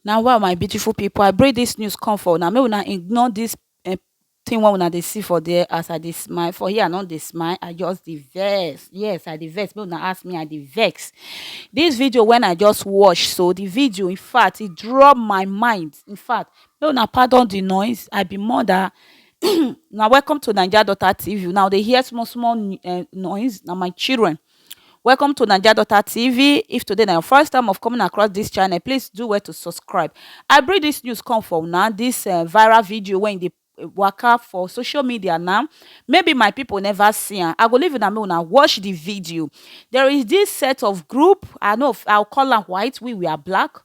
Now wa my beautiful people I bring this news come for una make una ignore this um thing wey una dey see for there as I dey smile for here I no dey smile I just dey vex yes I dey vex make una ask me I dey vex this video when I just watch so the video infact e drop my mind infact make una pardon the noise I be mother um una welcome to naija daughter TV una go dey hear small small noise na my children Welcome to Naija Daughter TV. If today na your first time of coming across this channel, please do well to subscribe. I bring this news come for una, this uh, viral video when they eh, waka for social media now. Maybe my people never see am. I go leave una make una watch the video. There is this set of group, I know I'll call am white, we we are black.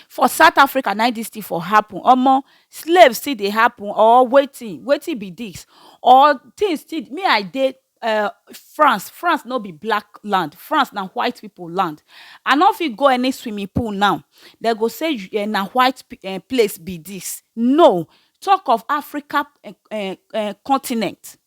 For south Africa na im dis thing for happen omo slave still dey happen or wetin wetin be dis or thing still me I dey um France, France no be black land France na white people land I no fit go any swimming pool now dem go say um na white place be dis no talk of Africa um continent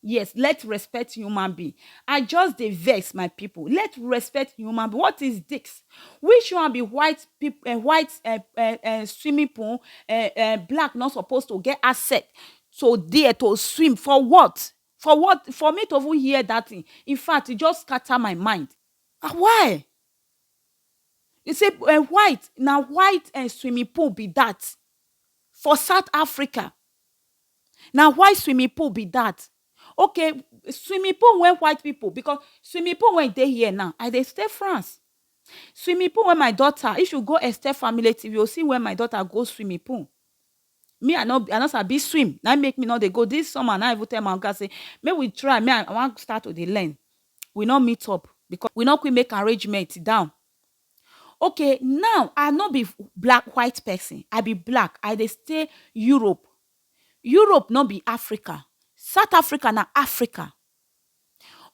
Yes let respect human being I just dey vex my people let respect human being what is this which one be white people um white um um um swimming pool um um black no suppose to get access to there to swim for what for what for me to even hear that thing in fact e just scatter my mind um why e say um white na white um swimming pool be that for south Africa Na white swimming pool be dat okay swimming pool wey white people because swimming pool wey dey here now I dey stay France swimming pool wey my daughter if you go Esther family TV you go see where my daughter go swimming pool me I no I no sabi swim na im make me no dey go this summer na im I even tell my oga say make we try me I wan start to dey learn we no meet up because we no quick make arrangement down Okay now I no be black white person I be black I dey stay Europe, Europe no be Africa, South Africa na Africa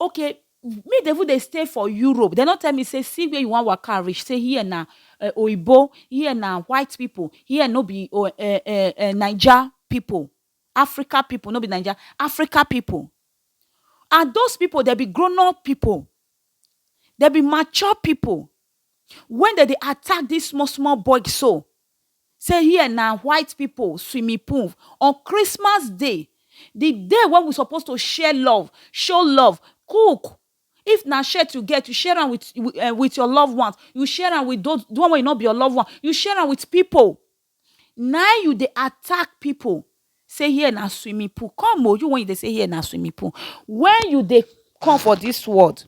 okay me dey even dey stay for Europe dey no tell me say see where you wan waka reach say here na oyinbo here na white people here no be naija people Africa people, no be Naija, Africa people and those people dem be grown up people, dem be mature people when dem dey attack this small small boy so say here na white people swimming pool on Christmas day, the day wey we suppose to share love, show love, cook, if na shirt you get, you share am with your loved ones, you share am with those, the one wey no be your loved ones, you share am with people. Nai you dey attack pipu say here na swimming pool, come o you wey you dey say here na swimming pool when you dey come for dis world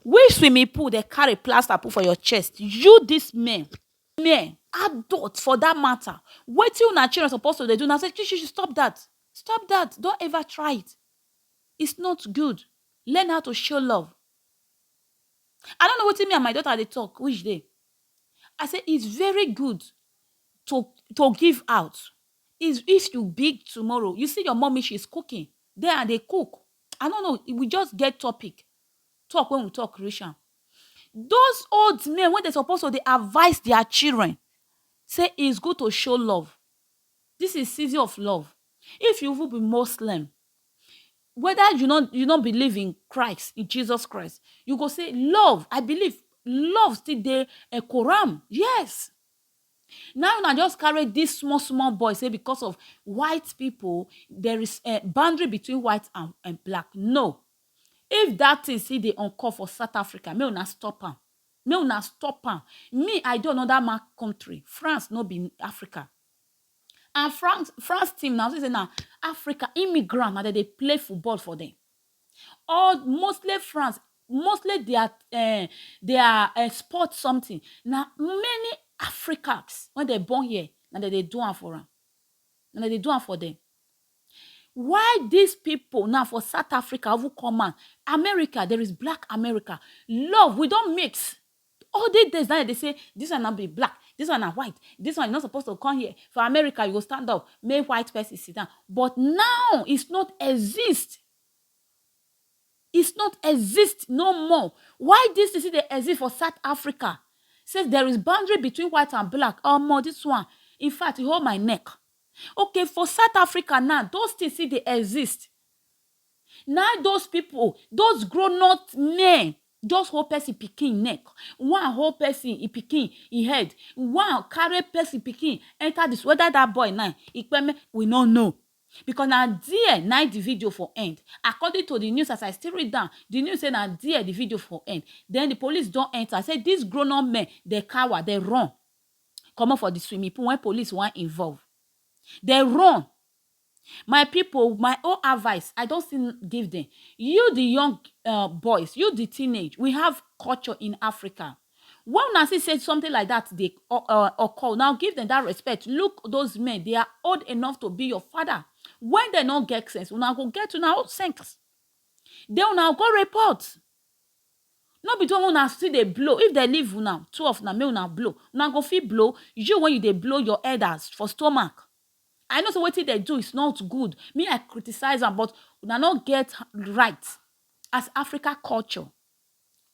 which swimming pool dem carry plaster put for your chest? You dis men, men adult for dat mata wetin una children suppose to dey do na say shishi stop dat, stop dat don't ever try it it's not good learn how to show love I no know wetin me and my daughter dey talk which day I say it's very good to to give out is if you big tomorrow you see your mommy she's cooking then i dey cook i no know we just get topic talk when we talk reach am those old men wey dey suppose to dey advise their children say it's good to show love this is season of love if you even be muslim weda you no you no believe in Christ, in Jesus Christ, you go say love, I believe love still dey um Quran, yes. Na una just carry dis small small boy say because of white pipu, there is um boundary between white and um black, no. If dat tin still dey occur for South Africa, make una stop am, make una stop am. Me, I dey another man country, France no be Africa, And France France team na say na Africa immigrant na dem dey play football for them. All mostly France mostly their um their um sport something na many Africans wey dem born here na dem dey do am for am na dem dey do am for them. Why this people now for South Africa even come out America there is black America love we don mix All dis days na dem dey say dis one na be black, dis one na white, dis one you no suppose to come here, for America you go stand up make white person sit down but now is not exist, is not exist no more, why dis thing still dey exist for south Africa say there is boundary between white and black omo dis one in fact e hold my neck, okay for south Africa now those things still dey exist. Na im those people, those grown-up men just hold person pikin neck, one hold person e pikin e head, one carry person pikin enter the school, whether that boy now e kpeme, we no know because na there na im the video for end. According to the news as I still read am, the news say na there the video for end. Then the police don enter, say these grown-up men dem cower, dem run comot for the swimming pool when police wan involve. Dem run. My pipu, my own advice, I don still give dem. You the young um boys, you the teenage, we have culture in Africa. When una see say something like that dey o- uh, occur, now give them that respect. Look those men, they are old enough to be your father. When they no get sense, una go get una own sense. Then una go report. No be when una still dey blow. If they leave una, two of una, make una blow. Una go fit blow. You when you dey blow your elders for stomach, I know say wetin dem do is not good, me I criticize am but una no get right as Africa culture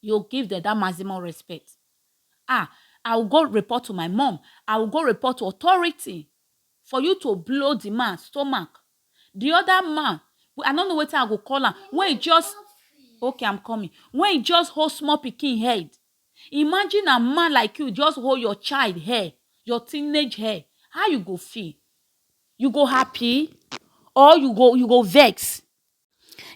you give dem that maximum respect ah I will go report to my mom, I will go report to authority for you to blow the man stomach the other man I no know wetin I go call am when he just okay I'm coming when he just hold small pikin head Imagine na man like you just hold your child hair, your teenage hair, how you go feel? You go happy or you go you go vex?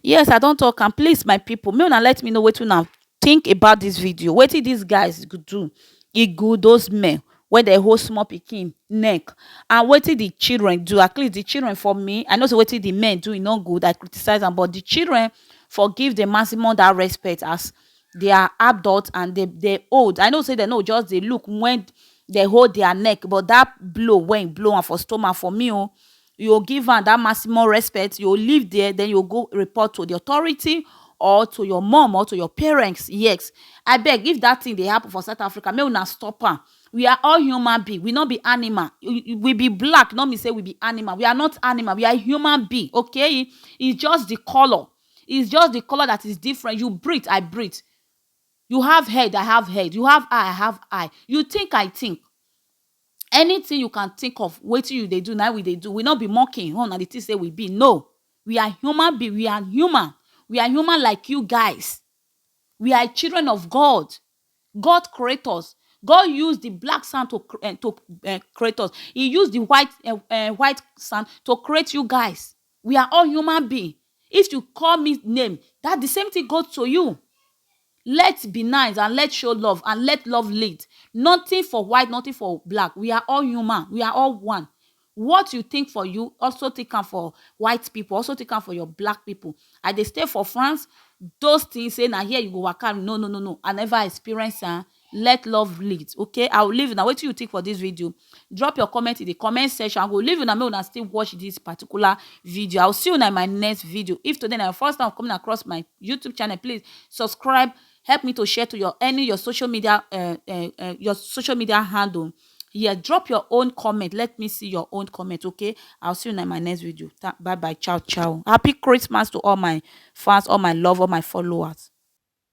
Yes I don talk am, please my people make una let me know wetin una think about this video, wetin these guys go do e good those men wey dey hold small pikin neck and wetin the children do at least the children for me I know say wetin the men do e no good I criticize am but the children for give the maximum that respect as they are adult and dem dem old i know say dem no go just dey look when dem hold their neck but that blow wey he blow am for stomach for me o you go give am that maximum respect you go leave there then you go go report to the authority or to your mum or to your parents yes abeg if that thing dey happen for south Africa make una stop am we are all human being we no be animal we be black no mean say we be animal we are not animal we are human being okay it's just the colour is just the colour that is different you breathe I breathe you have head I have head you have eye I have eye you think I think anything you can think of wetin you dey do na we dey do we no be monkey home na the thing say we be no we are human being we are human we are human like you guys we are children of God God create us God use the black sand to to create us he use the white um white sand to create you guys We are all human being if you call me name that the same thing go to you. Let be nice and let show love and let love lead. Nothing for white, nothing for black. We are all human. We are all one. What you think for you, also think am for white people, also think am for your black people. I dey stay for France, those things say na here you go waka. No, no, no, no. I never experience am. let love lead okay i will leave una wetin you think for this video drop your comment in the comment section i will leave una make una still watch this particular video i will see you in my next video if today na your first time coming across my youtube channel please subscribe help me to share to your any your social media uh, uh, uh, your social media handle yeah drop your own comment let me see your own comment okay i'll see you in my next video bye bye ciao ciao happy christmas to all my fans all my love all my followers